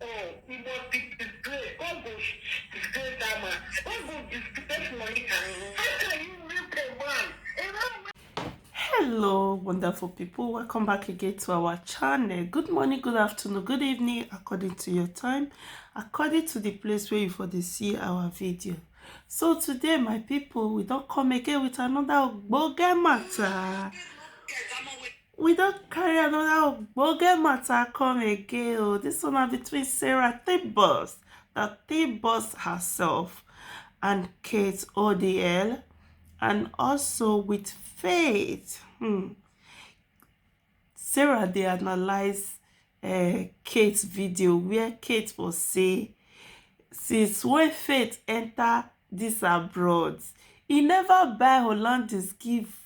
Oh, he must be disgraced. God go disgrace that man. God go disgrace Monica. How can you rape a man? A man hello wonderful people welcome back again to our channel good morning good afternoon good evening according to your time according to the place where you for the see our video so today my people we don't come again with another ogbonge matter we don carry another ogbonge matter come again o oh. this one na between sarah thibos the thibos herself and kate odl and also with faith hmm. sarah dey analyse uh, kate video where kate was say since when faith enter this abroad he never buy hollandis give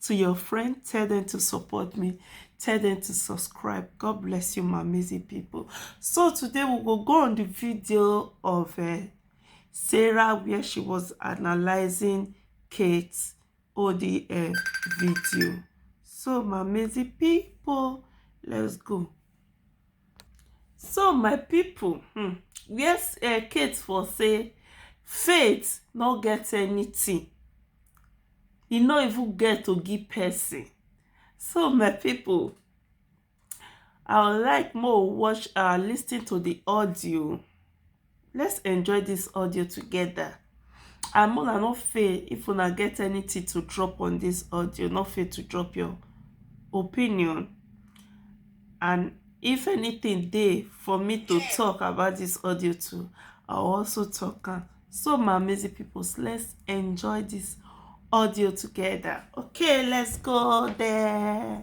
to your friend tell them to support me tell them to subscribe god bless you my amazing people so today we will go on the video of uh, sarah where she was analyzing kate odi uh, eh, video so my amazing people let's go So my pipu um where um Kate for sey faith no get anything, e no even get to give person. So my pipu I would like make we watch um lis ten to de audio Let's enjoy this audio together. And Mola, no fail if una get anything to drop on this audio, no fail to drop your opinion. And if anything dey for me to talk about this audio too, I'll also talk. Am. So my amazing people, let's enjoy this audio together. Okay, let's go there.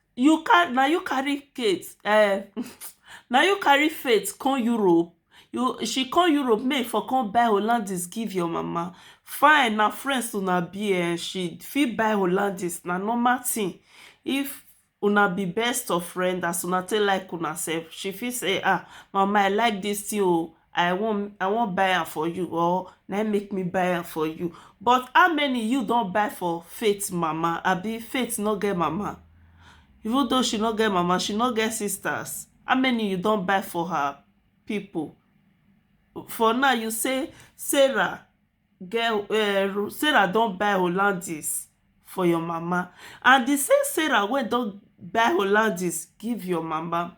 you can na you carry Kate um na you carry faith come Europe you she come Europe make for come buy Hollandis give your mama fine na friends una be eh she fit buy Hollandis na normal thing if una be best of friend as una take like una sef she fit say ah mama I like this thing o i wan i wan buy am for you or na im make me buy am for you but how many you don buy for faith mama abi faith no get mama even though she no get mama she no get sisters how many you don buy for her people for now you say sarah get um sarah don buy hollandis for your mama and the same sarah wey don buy hollandis give your mama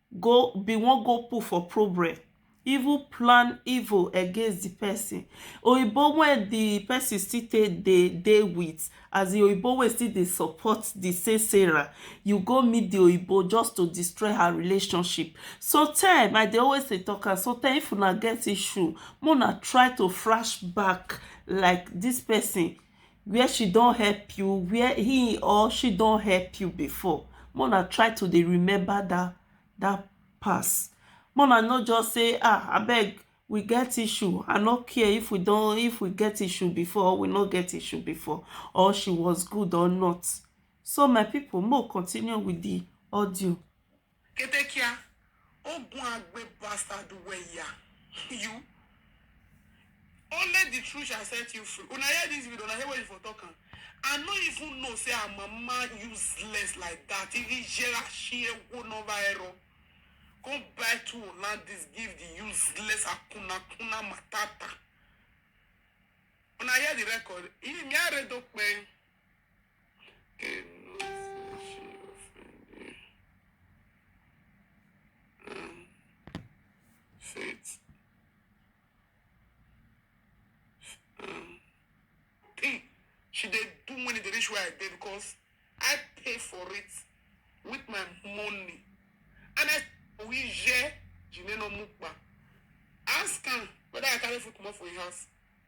go be wan go put for problem even plan evil against di person oyibo wey di person still take dey dey with as in oyibo wey still dey support di same sarah you go meet di oyibo just to destroy her relationship sometime I dey always dey talk am sometime if una get issue make una try to flash back like dis person where she don help you where he or she don help you before make una try to dey remember that that past make una no just say ah abeg we get issue i no care if we don if we get issue before or we no get issue before or she was good or not so my people make we continue with the audio Kete kia, o gun agbe bastard well ya you only the truth shall set you free una hear this video una hear where you for talk am I no even know say her mama useless like that iri jera shi ewo no va ero go buy two Hollandis give the useless akuna kuna matata una hear the record iri mi aredo pe. She did do money the rich way I did because I pay for it with my money. And I we je Jimeno Mukba. Ask him whether I carry food come up for your house.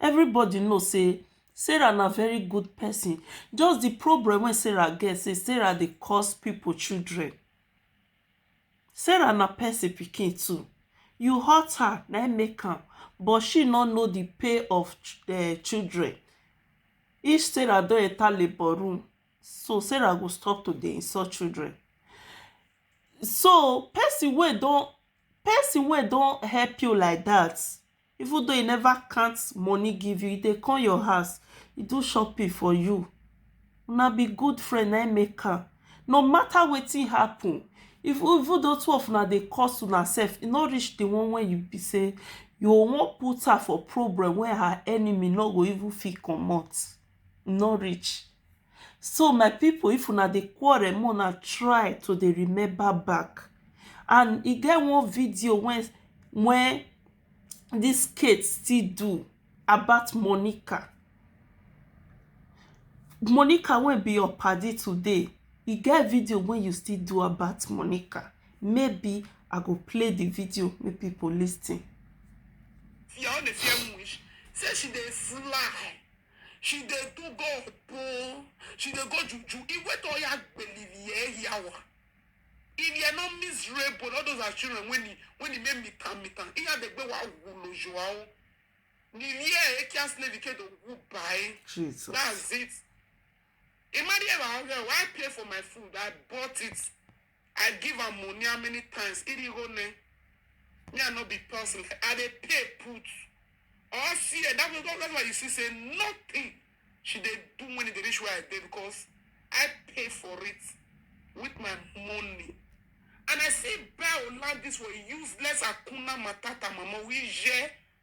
Everybody know sey Sarah na very good person just the problem wey Sarah get say Sarah dey cause people children Sarah na person pikin too you hurt her na im make am but she no know the pain of um children if Sarah don enter labour room so Sarah go stop to dey insult children so person wey don person wey don help you like that even though e never count money give you e dey come your house e do shopping for you una be good friend na im make am no matter wetin happen if even though two of una dey curse una sef e no reach the one wey you be say you go wan put her for problem wey her enemy no go even fit comot e no reach So my pipu if una dey quarrel make una try to dey remember back and e get one video wen wen dis Kate still do about Monica Monica wey be your paddy today e get video wey you still do about Monica maybe I go play the video make pipu lis ten. Your own dey fear wish say she dey fly. She dey do go opo. She dey go juju. Iwe to ya gbelili e yawa. If you're not miserable, all those are children when he when he made me tan me tan. Iya de gbe wa wulo joao. Nilie e kia slave ke do wu bai. Jesus. That's it. Imagine if I, I pay for my food, I bought it. I give am money how many times? Irigo ne. Me I no be person. I dey pay put. All see eh, that was that's why you see say nothing she dey do when it dey reach where I dey because I pay for it with my money. And I see buy Olandis for useless Akuna Matata mama. We je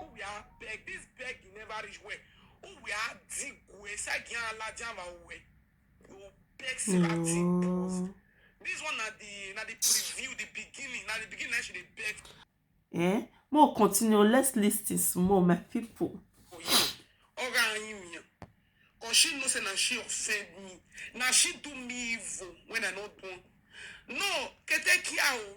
Who we are beg this beg you never reach where who we are dig we sagi alaja ma we you beg say that thing pause No. this one na the na the preview the beginning na the beginning na she dey beg Eh? More continue. Let's listen small, my people. for you oga anyi miyan cause she know say na she offend me na she do me evil when i no born no ketekia o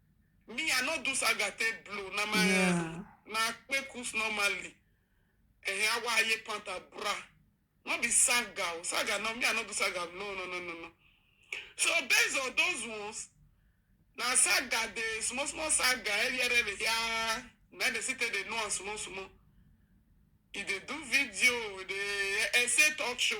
Me, I no do saga take blow. Na my Yeah. na kpekus normally. Eh, awa aye panta bra. No be saga. o. Saga no me, I no do saga. No, no, no, no, no. So based on those ones, na saga dey small small saga earlier earlier yeah. Na dey sit dey know am small small. He dey do video, he dey essay talk show.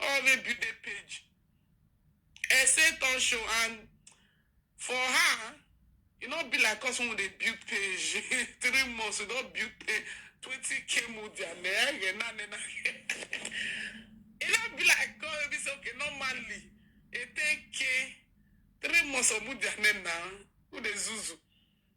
all wey build the page Ese turn show and for her e no be like us when we dey build page three months we don build page twenty k mo dia na ege na na na e no be like us wey be say okay normally e ten k three months of mo dia na na we dey zuzu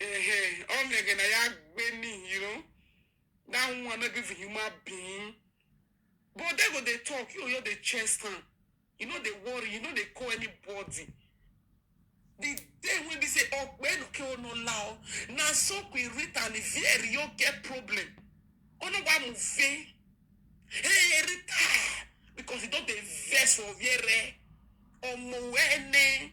Uh-huh. All nigga na ya gbenin, you know. That one not even human being. But they go they talk, you know they chest am. You know they worry, you know they call anybody. The day when they say, oh, when okay, oh no lao, na so we read and very you get problem. Oh no, why move? Hey, Rita, because you don't invest for very. Omo ene.